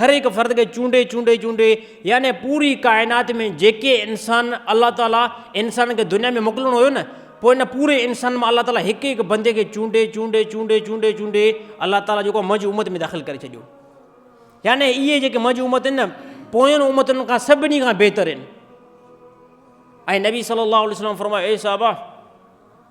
هر هڪ فرد کي چونڊي چونڊي چونڊي يعني پوري ڪائنات ۾ جيڪي انسان الله تعالي انسانن کي دنيا ۾ موڪلڻو هيو نه پوء ان پوري انسانن مان الله تعالي هڪ هڪ بندي کي چونڊي چونڊي چونڊي چونڊي چونڊي الله تعالي جيڪو منهنجي امت ۾ داخل ڪري ڇڏيو يعني اهي جيڪي منهنجي امت آهن نه پوين امتن کان سڀني کان بهتر آهن ۽ نبي صلي الله عليه وسلم فرمايو اي صحابه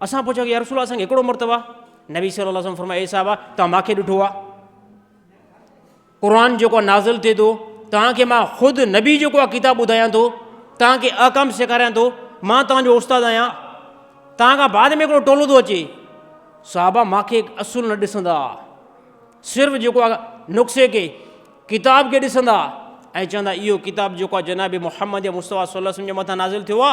اسان پڇيو ته يا رسول الله اسان کي هڪڙو مرتبه آ؟ نبي صلي الله عليه وسلم فرمايو اي صحابه توهان مان کي ڏٺو آ؟ قرآن جيڪو نازل ٿئي ٿو توهان کي مان خود نبي جيڪو آ ڪتاب ٻڌايان ٿو توهان کي احڪام سيکاريان ٿو مان توهان جو استاد آهيان توهان کان بعد ۾ هڪڙو ٽولو ٿو اچي صحابه مان کي اصول نه ڏسندا صرف جيڪو آ نقصي کي ڪتاب کي ڏسندا ۽ چوندا اهو ڪتاب جيڪو آ جناب محمد مصطفيٰ صلي الله عليه وسلم جي مٿان نازل ٿيو آ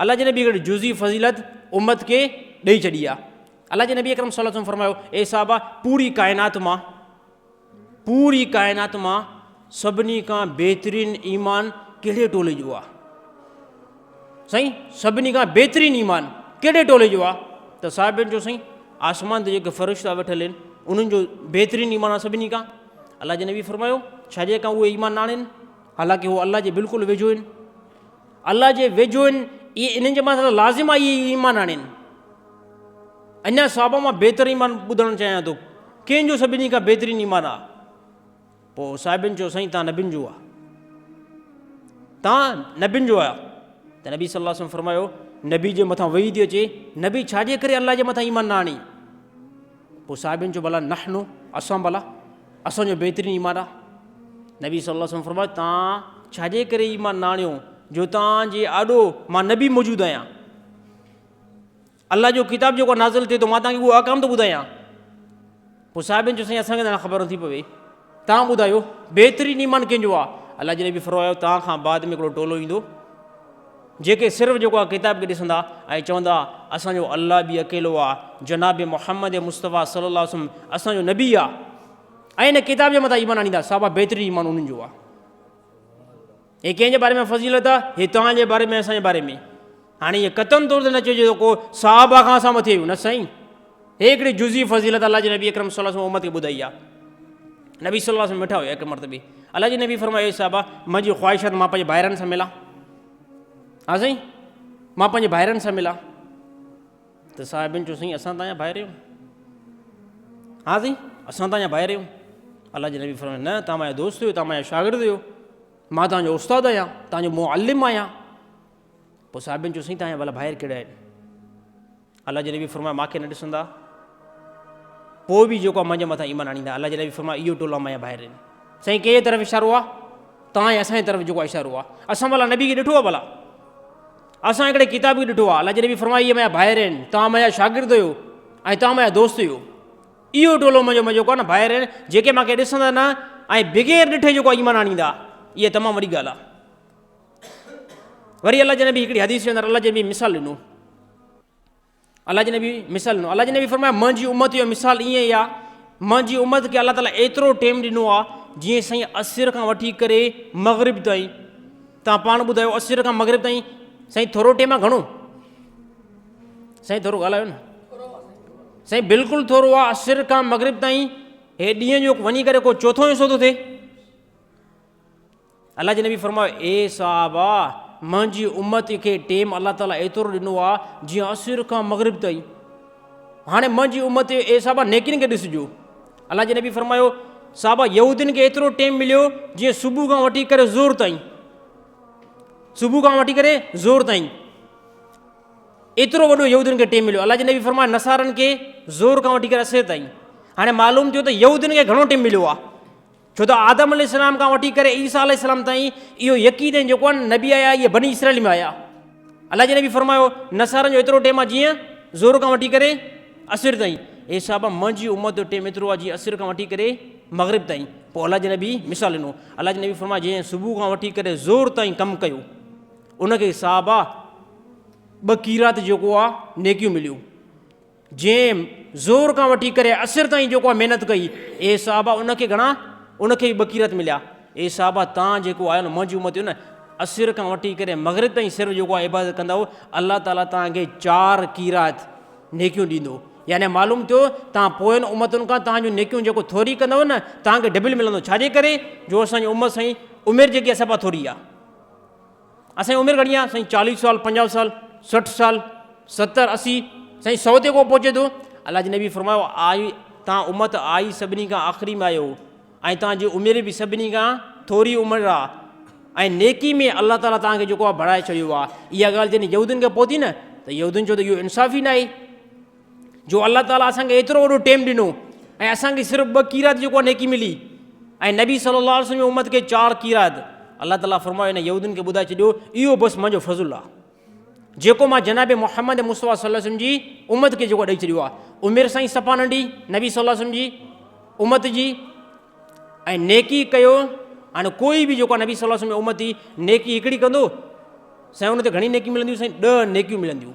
الله جي نبي کي جزئي فضيلت امت کي ڏئي ڇڏي آ الله جي نبي اڪرم صلي الله عليه وسلم فرمايو اي صحابه پوري ڪائنات مان پوري ڪائنات مان سڀني کان بهترين ايمان ڪهڙي ٽولي جو آ سائين سڀني کان بهترين ايمان ڪهڙي ٽولي جو آ ته صاحبين جو سائين آسمان تي جيڪي فرشتا ويٺل آهن انهن جو بهترين ايمان آ سڀني کان الله جي نبي فرمايو ڇا جي کان اهي ايمان ناڻين حالانڪه هو الله جي بلڪل ويجهو آهن الله جي ويجهو آهن، اهي انهن جي مٿان ته لازم آهي اهي ايمان آڻين. اڃا صحابه مان بهتر ايمان ٻڌڻ چاهيان ٿو، ڪنهن جو سڀني کان بهترين ايمان آ؟ پوء صاحبين چيو سائين تان نبين جو آ. تان نبين جو آهيو. ته نبي صلي الله عليه وسلم فرمايو نبي جي مٿان وحي ٿي اچي، نبي ڇا جي ڪري الله جي مٿان ايمان نه آڻي؟ پوء صحابين چيو ڀلا نحن اسان ڀلا اسان جو بهترين ايمان آ نبي صلي الله عليه وسلم فرمايو تان ڇاجي ڪري ايمان نه آڻيو جو تان جي آڏو مان نبي موجود آهيان الله جو ڪتاب جيڪو نازل ٿئي ٿو مان تان کي اهو احڪام ٿو ٻڌايان پوء صحابين چيو سائين اسان کي نه خبر ٿي پوي توهان ٻڌايو، بهترين ايمان ڪنهن جو آ؟ الله جي نبي فرمايو، توهان کان بعد ۾ هڪڙو ٽولو ايندو، جيڪي صرف جيڪو آ ڪتاب کي ڏسندا ۽ چوندا، اسان جو الله به اڪيلو آ، جناب محمد مصطفيٰ صلي الله عليه وسلم اسان جو نبي آ ۽ ان ڪتاب جي مٿان ايمان آڻيندا، صحابه بهترين ايمان انهن جو آ. هي ڪنهن جي باري ۾ فضيلت آ؟ هي توهان جي باري ۾ اسان جي باري ۾ هاڻي هي قطعن طور تي نه چئجي ته ڪو صحابه کان اسان مٿي آهيون نه سائين هي هڪڙي جزي فضيلت الله جي نبي اڪرم صلي الله علیه وسلم امت کي ٻڌائي آ نبي صلي الله علیه وسلم مٺا هيا هڪ مرتبه الله جي نبي فرمايو اي صحابه منهنجي خواهش آ ته مان پنهنجي ڀائرن سان ملان ها سائين مان پنهنجي ڀائرن سان ملان ته صاحبين چيو سائين اسان تان يا ڀائر اهيون؟ ها سائين اسان تان يا ڀائر اهيون؟ الله جي نبي فرمايو نه تان مايا دوست اهيو تان مايا شاگرد اهيو مان تان جو استاد آهيان تان جو معلم آهيان پوء صاحبين چيو سائين تان يا ڀلا ڀائر ڪهڙا آهن الله جي نبي فرمايو ماکي نه ڏسندا پوء به جيڪو منهنجي مٿان ايمان آڻيندا الله جي نبي فرمايو اهو ٽولا مايا ڀائر آهن سائين ڪنهن طرف اشارو آهي تان اسان جي طرف جيڪو اشارو آهي اسان ڀلا نبي کي ڏٺو آهي ڀلا اسان هڪڙي ڪتاب کي ڏٺو آهي، الله جي نبي فرمايو اهي منهنجا ڀائر آهن، توهان منهنجا شاگرد هيو ۽ توهان منهنجا دوست هيو. اهو ٽولو منهنجو منهنجو ڪو نه ڀائر آهن جيڪي مون کي ڏسندا نه ۽ بغير ڏٺي جيڪو ايمان آڻيندا اها تمام وڏي ڳالهه آهي. وري الله جي نبي هڪڙي حديث جي اندر الله جي نبي مثال ڏنو. الله جي نبي مثال ڏنو، الله جي نبي فرمايو منهنجي امت جو مثال ائين ئي آ، منهنجي امت کي الله تعالي ايترو ٽيم ڏنو آ جيئن سائين عصر کان وٺي ڪري مغرب تائين تان پاڻ ٻڌايو عصر کان مغرب تائين سائين ٿورو ٽيم آ گهڻو سائين ٿورو ڳالهايو نه سائين بلڪل ٿورو آ عصر کان مغرب تائين هي ڏينهن جو وڃي ڪري ڪو چوٿون حصو ٿو ٿئي الله جي نبي فرمايو، اي صحابه! منهنجي امت کي ٽيم الله تعالي ايترو ڏنو آهي جيئن عصر کان مغرب تائين. هاڻي منهنجي امت، اي صحابه! نيڪين کي ڏسجو. الله جي نبي فرمايو، صحابه! يهودين کي ايترو ٽيم مليو جيئن صبح کان وٺي ڪري ظهر تائين. صبح کان وٺي ڪري ظهر تائين. ايترو وڏو يهودين کي ٽيم مليو. الله جي نبي فرمايو، نصارن کي ظهر کان وٺي ڪري عصر تائين. هاڻي معلوم ٿيو ته يهودين کي گهڻو ٽيم مليو آهي. ڇو ته آدم عليه السلام کان وٺي ڪري عيسيٰ عليه السلام تائين اهو يقين آهن جيڪو آهن نبي آيا اهي بني اسرائيل ۾ آيا الله جي نبي فرمايو نصارن جو ايترو ٽيم آهي جيئن زور کان وٺي ڪري اسر تائين اي صاحب منهنجي امت جو ٽيم ايترو آهي جيئن اسر کان وٺي ڪري مغرب تائين پوء الله جي نبي مثال ڏنو الله جي نبي فرمايو جنهن صبح کان وٺي ڪري زور تائين ڪم ڪيو ان کي صاحب ٻه قيرات جيڪو آهي نيڪيون مليون جنهن زور کان وٺي ڪري اسر تائين جيڪو آء محنت ڪئي، اي صحابه! ان کي گهڻا، ان کي ئي ٻه قيرط مليا. اي صحابه! تان جيڪو آهيو نه منهنجي امت جو نه، اسر کان وٺي ڪري مغرب تائين صرف جيڪو آء عبادت ڪندؤ، الله تعاليٰ تان کي چار قيرط، نيڪيون، ڏيندو. يعني معلوم ٿيو تان پوين امتن کان تان جون نيڪيون جيڪو ٿوري ڪندؤ نه، تان کي ڊبل ملندو. ڇا جي ڪري؟ جو اسان جي امت سائين عمر جيڪي آهي سا ٿوري آهي. اسان جي عمر گهڻي آهي سائين چاليهه سال پنجاهه سال سٺ سال ستر اسي سائين سو تي ڪو پهچي ٿو الله جي نبي فرمايو آئي تان امت آئي سڀني کان آخري ۾ آيو ۽ تان جي عمر به سڀني کان ٿوري عمر آ ۽ نيڪي ۾ الله تعالي تان کي جيڪو آ بڙائي ڇڏيو آ اها ڳالهه جڏهن يهودين کي پهتي نه ته يهودين چيو ته اهو انصاف ئي نه آهي جو الله تعالٰي اسان کي ايترو وڏو ٽيم ڏنو ۽ اسان کي صرف ٻه قيرات جيڪو نيڪي ملي ۽ نبي صلي الله عليه وسلم امت کي چار قيرات الله تعالٰي فرمايو هن يهودين کي ٻڌائي ڇڏيو اهو بس منهنجو فضل آ جيڪو مان جناب محمد مصطفيٰ صلي وسلم جي امت کي جيڪو ڏيئي ڇڏيو آ عمر سائين صفا ننڍي نبي صلي الله وسلم جي امت جي ۽ نيڪي ڪيو ان کوئی به جيڪو نبي صلي الله وسلم امت جي نيڪي هڪڙي ڪندو سائين ان تي گهڻي نيڪي ملنديون سائين ڏه نيڪيون ملنديون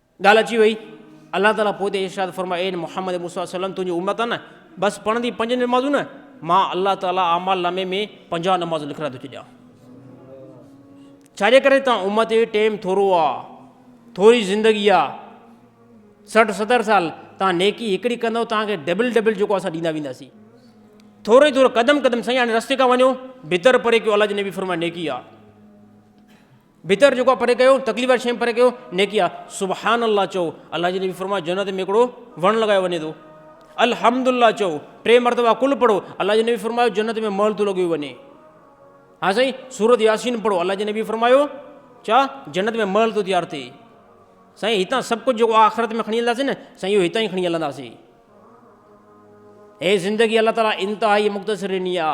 ڳالهه اچي وئي، الله تعاليٰ پوء تي ارشاد فرمايو، اي محمد مون صلي الله عليه وسلم تنهنجي امت نه بس پڙهندي پنج نمازون نه، مان الله تعاليٰ اعمال نامي ۾ پنجاهه نمازون لکرائي ٿو ڇڏيان. ڇاجي ڪري ته امت جي ٽيم ٿورو آ، ٿوري زندگي آ، سٺ ستر سال، تان نيڪي هڪڙي ڪندو تان کي ڊبل ڊبل جيڪو اسان ڏيندا وينداسين. ٿورو ئي ٿورو قدم قدم سائين هاڻي رستي کان وڃو، بھتر پري ڪيو الله جي نبي فرمايو نيڪي آ. بھتر جيڪو آ پري ڪيو، تڪليف واري شين پري ڪيو، نيڪي آ، سبحان الله چئو، الله جي نبي فرمايو جنت ۾ ھڪڙو وڻ لڳايو وڃي ٿو، الحمد لله چئو، ٽي مرتبا قل پڙھو، الله جي نبي فرمايو جنت ۾ محل ٿو لڳيو وڃي. ھا سائين سورت ياسين پڙھو، الله جي نبي فرمايو چا جنت ۾ محل ٿو تيار ٿئي. سائين ھتان سڀ ڪجھ جيڪو آخرت ۾ کڻي ھلنداسين نه سائين اھو ھتان ئي کڻي ھلنداسين. ھي زندگي الله تعالي انتھائي مختصر ڏني آ.